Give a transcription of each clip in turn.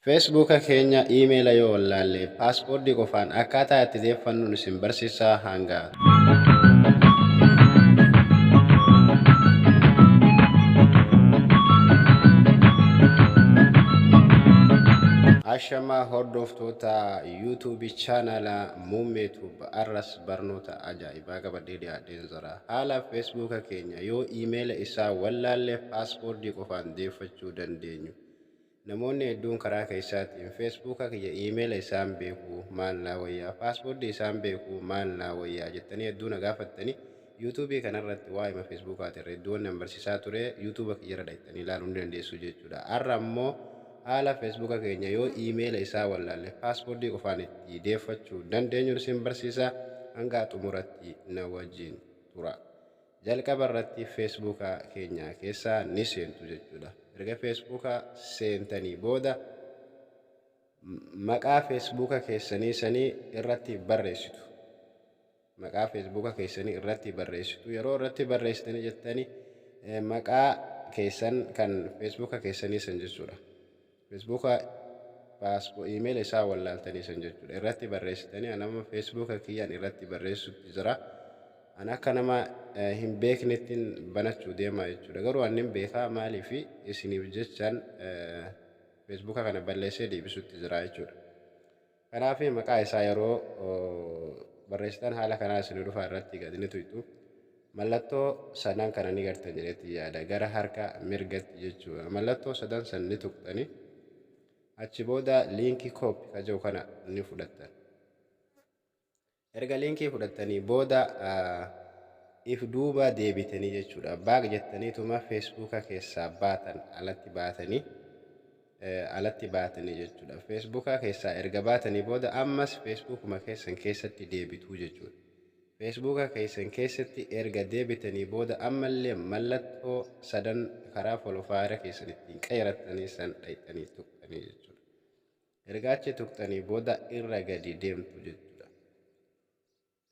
Facebook keenya email yoo wallaalle password qofaan akkaataa itti deeffannu isin barsiisa hanga. Ashamaa hordoftoota YouTube chaanala Muummee Tube arras barnoota ajaa'ibaa qabadhee dhiyaadheen jira. Haala Facebook keenya yoo email isaa wallaalle password qofaan deeffachuu dandeenyu. Namoonni hedduun karaa keessaatiin Feesbuuka kiyya iimeela isaan beeku maal naa wayyaa, Paaswoordii isaan beeku maal naa wayyaa jettanii hedduu na gaafattanii Yuutuubii kana irratti waa'ima Feesbuukaatiin redduuwan nan barsiisaa ture Yuutuuba kiyya irra dhaqxanii ilaaluu ni dandeessu jechuudha. Har'a ammoo haala Feesbuuka keenya yoo iimeela isaa wallaalle Paaswoordii qofaan itti deeffachuu dandeenyun isin barsiisa hangaa xumuratti na wajjin turaa. Jalqaba irratti Facebook keenya keessa ni seentu jechuudha. Erga Facebook seentanii booda maqaa Facebook keessanii sanii irratti barreessitu. Maqaa Facebook keessanii irratti barreessitu. Yeroo irratti barreessitanii jettanii maqaa keessan kan Facebook keessanii san jechuudha. Facebook paspo email isaa wallaaltanii san jechuudha irratti barreessitanii an amma Facebook kiyyaan irratti barreessutti jira an akka nama eh, hin beeknettiin banachuu deemaa jechuudha garuu an hin beekaa maalii fi isiniif jechaan eh, Facebook kana balleessee deebisutti jira jechuudha Kanaaf maqaa isaa yeroo barreessitan haala kanaan isinii dhufa irratti gad ni tuyxu. Mallattoo sadan kana ni gartan jedhetti yaada. Gara harka mirgatti jechuudha. Mallattoo sadan san ni tuqxani. Achi booda liinkii kooppi ka jiru kana ni fudhattan. Erga linkii fudhattanii booda if duuba deebitanii jechuudha back jettaniituma feesbuuka keessaa baatan alatti baatanii alatti baatanii jechuudha feesbuuka keessaa erga baatanii booda ammas feesbuukuma keessan keessatti deebituu jechuudha feesbuuka keessan keessatti erga deebitanii booda ammallee mallattoo sadan karaa folofaayeera keessan ittiin qeerattanii san dhayxanii tuqxanii jechuudha Erga achi tuqxanii booda irra gadi deemtu jechuudha.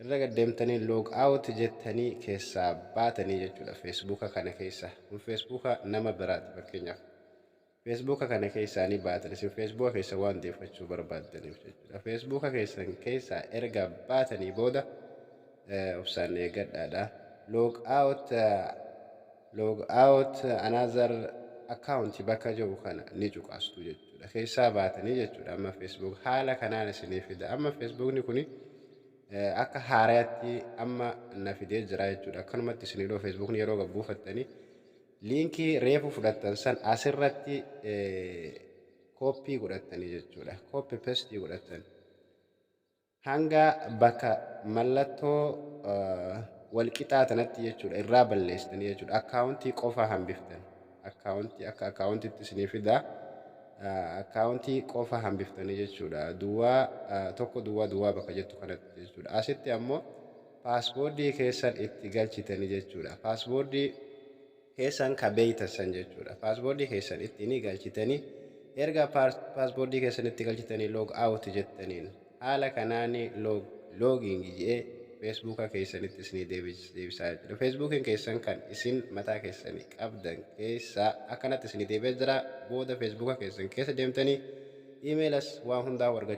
Irra gad deemtanii log out jettanii keessaa baatanii jechuudha feesbuuka kana keessa. Kun feesbuuka nama biraati fakkeenyaaf. Feesbuuka kana keessaa ni baatan isin feesbuuka keessa waan deeffachuu barbaaddaniif jechuudha. Feesbuuka keessan keessaa erga baatanii booda obsaan eegadhaadha. Log out Log out another account bakka jedhu kana ni cuqastu jechuudha. Keessaa baatanii jechuudha amma Facebook haala kanaan isinii fida. Amma Facebookni kuni eh, akka haaraatti amma na fidee jira jechuudha. Akkanumatti isinii dhoo Facebookni yeroo gad buufattanii liinkii reefu fudhattan san asirratti eh, kooppii godhattanii jechuudha. Kooppi pestii godhattan. hanga bakka mallattoo wal qixaa tanatti jechuudha irraa balleessitanii jechuudha akkaawuntii qofaa hambiftan akkaawuntii akka akkaawuntiitti isinii fida akkaawuntii qofaa hambiftanii jechuudha duwwaa tokko duwwaa duwwaa bakka jettu kanatti jechuudha asitti ammoo paasboordii keessan itti galchitanii jechuudha paasboordii keessan ka beeytan san jechuudha. Password keessan ittiin galchitanii erga password keessan itti galchitanii log out jettaniin haala kanaan log logging je'ee Facebook keessanitti isinii deebis- deebisaa jechuudha. Facebookin keessan kan isin mataa keessanii qabdan keessaa akkanatti isinii deebi'ee jira. Booda Facebook keessan keessa deemtanii email as waan hundaa argachuu